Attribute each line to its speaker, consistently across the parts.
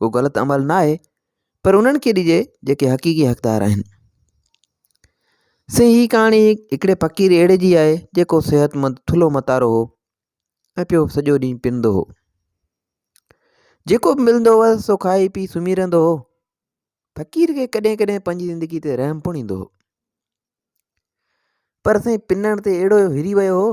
Speaker 1: ڪو غلط عمل نه آهي پر انهن کي ڏجي جيڪي حقيقي حقدار آهن سي هي ڪهاڻي هڪڙي فقير اهڙي جي آهي جيڪو صحت مند ٿلهو متارو هو ۽ پيو سڄو ڏينهن پنندو هو جيڪو به ملندو هوس سو کائي پي سمهي رهندو هو فقير کي ڪڏهن ڪڏهن پنهنجي زندگي تي رحم پڻ ايندو هو پر سائين پنڻ تي اهڙو هري ويو هو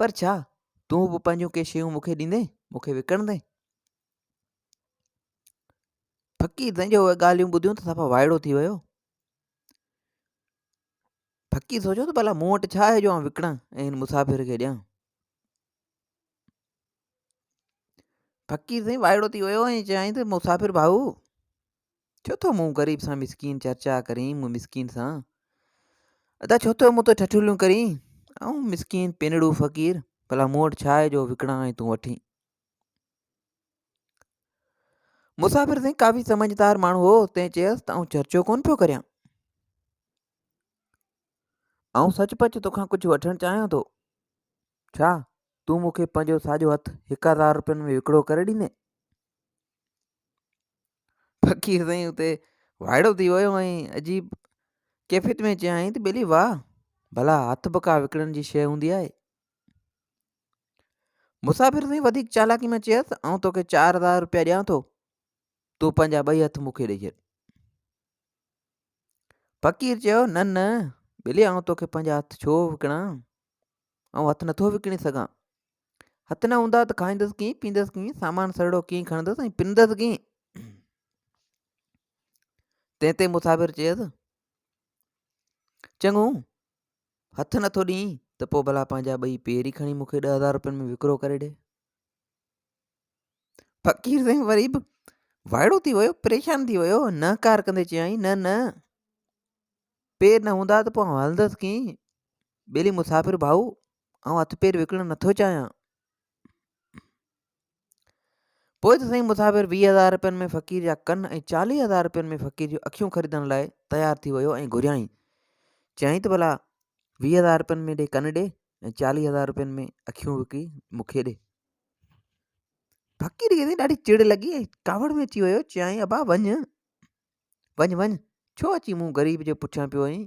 Speaker 1: پر ڇا تون به پنهنجون ڪي شيون مون کي ڏيندين مون کي وڪڻندين فقير تنهنجي اهي ڳالهيون ٻڌيون ته صفا وائڙو ٿي ويو فقير سوچيو ته ڀلا مون وٽ ڇا آهي جو آن وڪڻان ۽ هن مسافر کي ڏيان فقير سائين وائڙو ٿي ويو ۽ چيائين ته مسافر ڀائو ڇو ٿو مون غريب سان مسڪين چرچا ڪرين مون مسڪين سان ادا ڇو ٿو مون تي ٺٺوليون ڪرين ائون مسڪين پنڙو فقير ڀلا مون وٽ ڇا آهي جو وڪڻان ۽ تون وٺين مسافر سائين ڪافي سمجھدار ماڻهو هو تنهن چيس ته آئون چرچو ڪون پيو ڪريان آئون سچ پچ توکان ڪجهه وٺڻ چاهيان ٿو ڇا تون مون کي پنهنجو ساڄو هٿ هڪ هزار روپين ۾ وڪڙو ڪري ڏيندين فقير سائين اتي وائڙو ٿي ويو ۽ عجيب ڪيفيت ۾ چيائين ته ٻيلي واهه ڀلا هٿ به ڪا وڪڻڻ جي شي هوندي آهي مسافر سائين وڌيڪ چالاڪي ۾ چيس آئون توکي چار هزار روپيا ڏيان ٿو تون پنهنجا ٻئي هٿ مون کي ڏيئي ڇڏ فقير چيو نه نه ٻيلي آئون توکي پنهنجا هٿ ڇو وڪڻان آئون هٿ نٿو وڪڻي سگھان هٿ نه هوندا ته کائيندس ڪيئن پيندس ڪيئن سامان سرڙو ڪيئن کڻندس ۽ پنندس ڪيئن تنهن تي مسافر چيس چڱو هٿ نٿو ڏينء ته پوء ڀلا پنهنجا ٻئي پير ئي کڻي مونکي ڏهه هزار روپين ۾ وڪرو ڪري ڏي فقير سائين وري به وائڙو ٿي ويو پريشان ٿي ويو نه ڪار ڪندي چيائين نه نه پير نه هوندا ته پوء هلندس ڪيئن ٻيلي مسافر ڀائو آئون هٿ پير وڪڻڻ نٿو چاهيان. پوء ته سائين مسافر ويهه هزار رپين ۾ فقير جا ڪن ۽ چاليهه هزار رپين ۾ فقير جون اکيون خريدڻ لاء تيار ٿي ويو ۽ گهريائين چيائين ته ڀلا ويهه هزار رپين ۾ ڏي ڪن ڏي ۽ چاليهه هزار رپين ۾ اکيون وڪي مون کي ڏي فقير کي ڏاڍي چڙ لڳي ۽ ڪاوڙ ۾ اچي ويو چيائين ابا وڃ وڃ وڃ ڇو اچي مون غريب جي پٺيان پيو وئين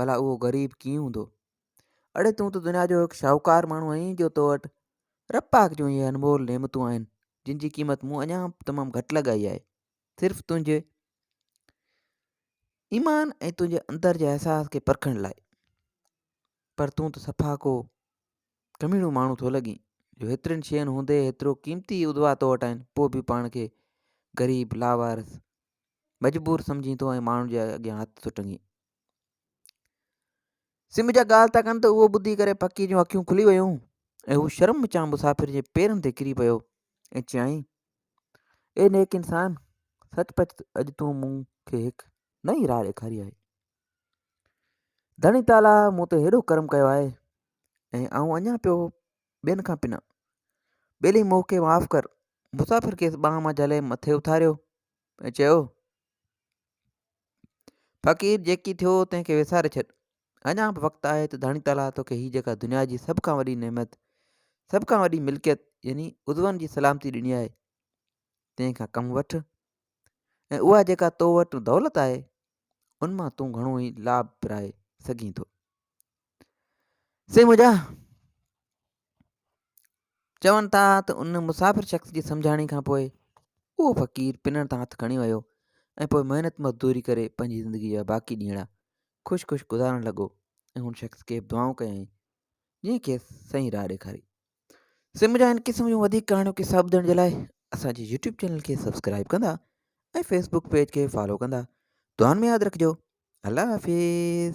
Speaker 1: ڀلا اهو غريب ڪيئن هوندو اڙي تون ته دنيا جو هڪ شاهوڪار ماڻهو آهين جو تو وٽ رب پاڪ جون اهي انمول نعمتون آهن جن جي قيمت مون اڃا تمام گهٽ لڳائي آهي صرف تنهنجي ايمان ۽ تنهنجي اندر جي احساس کي پرکڻ لاء پر تون ته صفا ڪو ڪميڻو ماڻهو ٿو لڳين جو هيترين شين هوندي هيترو قيمتي ادوا تو وٽ آهن پوء به پاڻ کي غريب لاوارس مجبور سمجهين ٿو ۽ ماڻهن جي اڳيان هٿ ٿو ٽنگين سم جا ڳالهه ٿا ڪن ته اهو ٻڌي ڪري پکي جون اکيون کلي ويون ۽ هو شرم وچان مسافر جي پيرن تي ڪري پيو ۽ چيائين اي نيڪ انسان سچ پچ اڄ تون مون کي هڪ نئين راهه ڏيکاري آهي ڌڻي تالا مون تي هيڏو ڪرم ڪيو آهي ۽ آئون اڃا پيو ٻين کان پنا. ٻيلي مون کي معاف ڪر. مسافر کيس ٻانهن مان جهلي مٿي اٿاريو ۽ چيو، فقير جيڪي ٿيو تنهن کي وساري ڇڏ. اڃا به وقت آهي ته ڌڻي تعاليٰ توکي هي جيڪا دنيا جي سڀ کان وڏي نعمت، سڀ کان وڏي ملڪيت يعني عضون جي سلامتي ڏني آهي، تنهن کان ڪم وٺ ۽ اها جيڪا تو وٽ دولت آهي، ان مان تون گهڻو ئي لاڀ پرائي سگهين ٿو. سي منهنجا چون ٿا ته ان مسافر شخص جي سمجھاڻي کان پوء اهو فقير پنڻ تان هٿ کڻي ويو ۽ پوء محنت مزدوري ڪري پنهنجي زندگي جا باقي ڏينهڙا خوش خوش گذارڻ لڳو ۽ هن شخص کي دعائون ڪيائين جنهن کي سائين راهه ڏيکاري سي منهنجا هن قسم جون وڌيڪ ڪهاڻيون کي ساهب ڏيڻ جي لاء اسانجي يوٽيوب چينل کي سبسڪرائب ڪندا ۽ فيسبوڪ پيج کي فالو ڪندا دعائن ۾ ياد رکجو الله حافظ